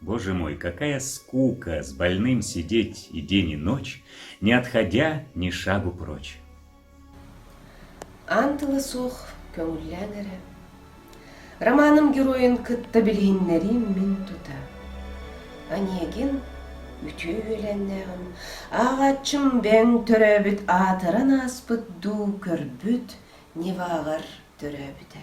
Боже мой, какая скука с больным сидеть и день и ночь, не отходя ни шагу прочь. Антыла суох көҥүллээн эрэ. Романым геройун кытта билиһиннэриим мин тута. Аниегин үтүө үөлэннээҕим, ааҕаччым бэҥ төрөөбүт аатыран ааспыт дуу көрбүт неваҕар төрөөбүтэ.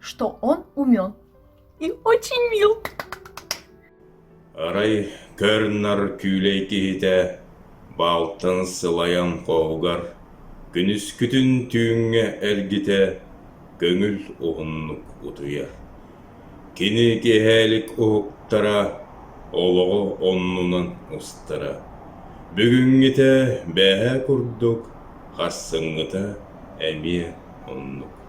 что он умен и очень мил Арай көр-нар күүлэй киһитэ балтын сылайан хоһугар күнүскүтүн түүҥҥэ эргитэ көҥүл уһуннук утуйар. Кини киэһээлик уһуктара олоҕу оннунан устара. Бүгүҥҥүтэ бээһэ курдук, харсыҥҥыта эмиэ оннук.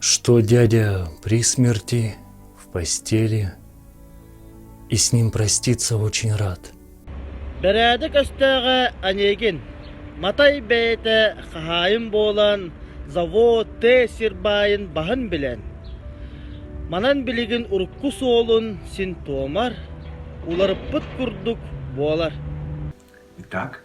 что дядя при смерти в постели и с ним проститься очень рад. Бэрээдэк өстөөҕө анегин матай бэйэтэ хаһаайын буолан завод те сирбайын баһын билен манан билигин урукку суолун син туомар уларыппыт курдук буолар итак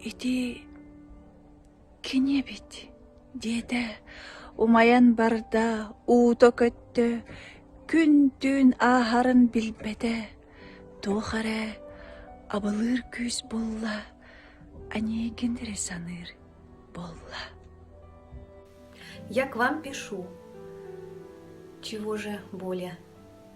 Ити кини эбит, диэтэ умайан барда, уута көттө, күн-түүн ааһарын билбэтэ, туох эрэ абылыыр күүс булла, анегинри саныыр буолла. Я к вам пишу. Чего же более?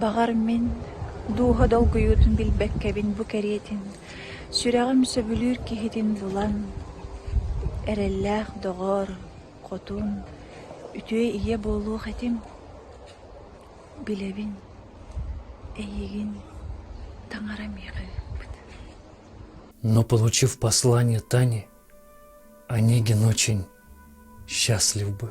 Баҕар, мин дууһа долгуйуутун билбэккэбин бу кэриэтин, сүрэҕим сөбүлүүр киһитин булан, эрэллээх доҕор, хотун, үтүө ийэ буолуох этим. Билэбин, эйигин таҥара миэхэбит. Но, получив послание Тани, Онегин очень счастлив был.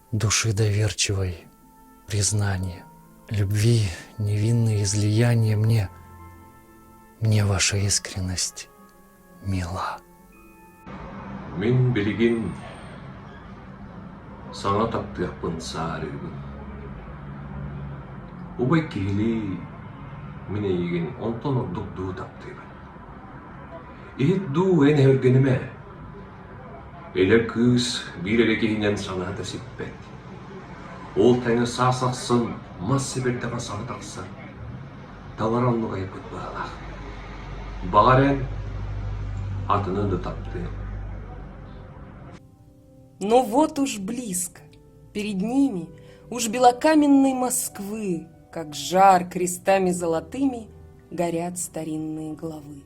души доверчивой, признание, любви, невинное излияние мне, мне ваша искренность мила. Мин билигин саҥа таптыахпын саарыыбын. Убай киһилии мин эйигин онтон ордук дуу таптыыбын. Иһит дуу эн өлгөнүмэ Эдэр кыыс биир эрэ киһинэн санаата сиппэт, ол тэҥэ саас ахсын мас сибирдэҕэ саҥа тахсар, талара оннук айаппыт быһаалаах. Баҕар эн атыны да таптыаҥ Но вот уж близко, перед ними, уж белокаменной Москвы, Как жар крестами золотыми горят старинные главы.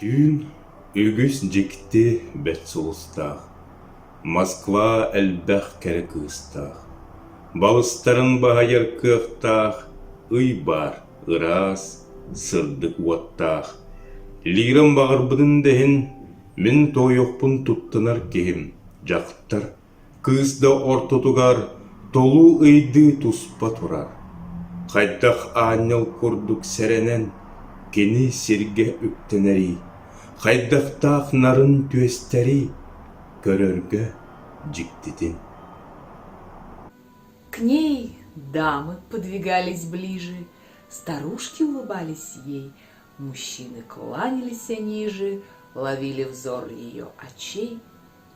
Түүн үгүс дьикти бэрт сулустаах, Москва элбэх кэрэ кыыстаах, Балыстарын баһыйар кыахтаах Ый баар ыраас, сырдык уоттаах. Лирам баҕарбытын да иһин, Мин туойуохпун туттунар киһим, дьахтар Кыыс да ортотугар толуу ыйдыы туспа турар, хайдах аанньал курдук сэрэнэн кини сиргэ үктэнэрий, хайдахтаах нарын түөстэрий көрөргө дьиктитин К ней дамы подвигались ближе, старушки улыбались ей, мужчины кланялись ниже, ловили взор ее очей.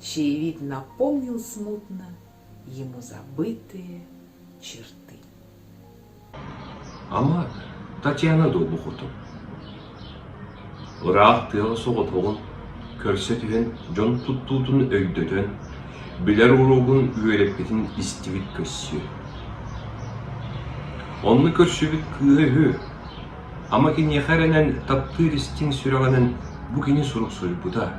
чаевик напомнил смутно ему забытые черты. Ама Татьяна дуобухутум. Ыраах тыаҕа соҕотоҕун, көрсө түһэн дьон туттуутун өйдөтөн, билэр уруогун үөрэппитин истибит көрсүө. Онну көрсүбүт кыыһа үһү. Ама киниэхэ эрэнэн таптыыр истиҥ сүрэҕинэн бу кини сурук суруйбута.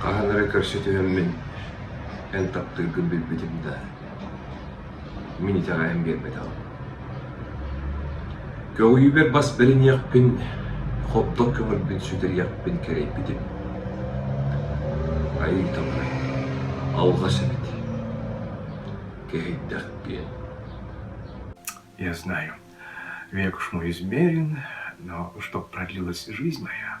Хаһан эрэ көрсө түһэммин эн таптыыргын билбитим да, мин итэҕэйэн биэрбэтэҕим. Көҕүлүүбэр бас бэриниэхпин, хобдох көмөрбүн сүтэриэхпин кэрэйбитим. Айыыталлар, алҕас эбит, кэһэйдэх диэн. Я знаю, век уж мой измерен, но чтоб продлилась жизнь моя,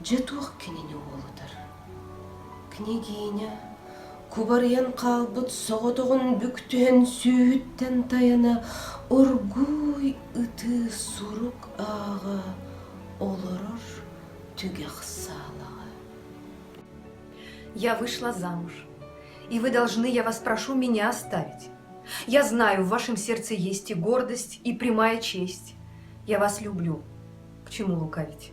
Дьэ туох кинини уолутар? Княгиня, кубарыйан хаалбыт соҕотоҕун бүк түһэн сүүһүттэн тайана оргууй ытыы сурук ааҕа олорор түгэх саалаҕа. Я вышла замуж, и вы должны, я вас прошу, меня оставить. Я знаю, в вашем сердце есть и гордость, и прямая честь. Я вас люблю. К чему лукавить?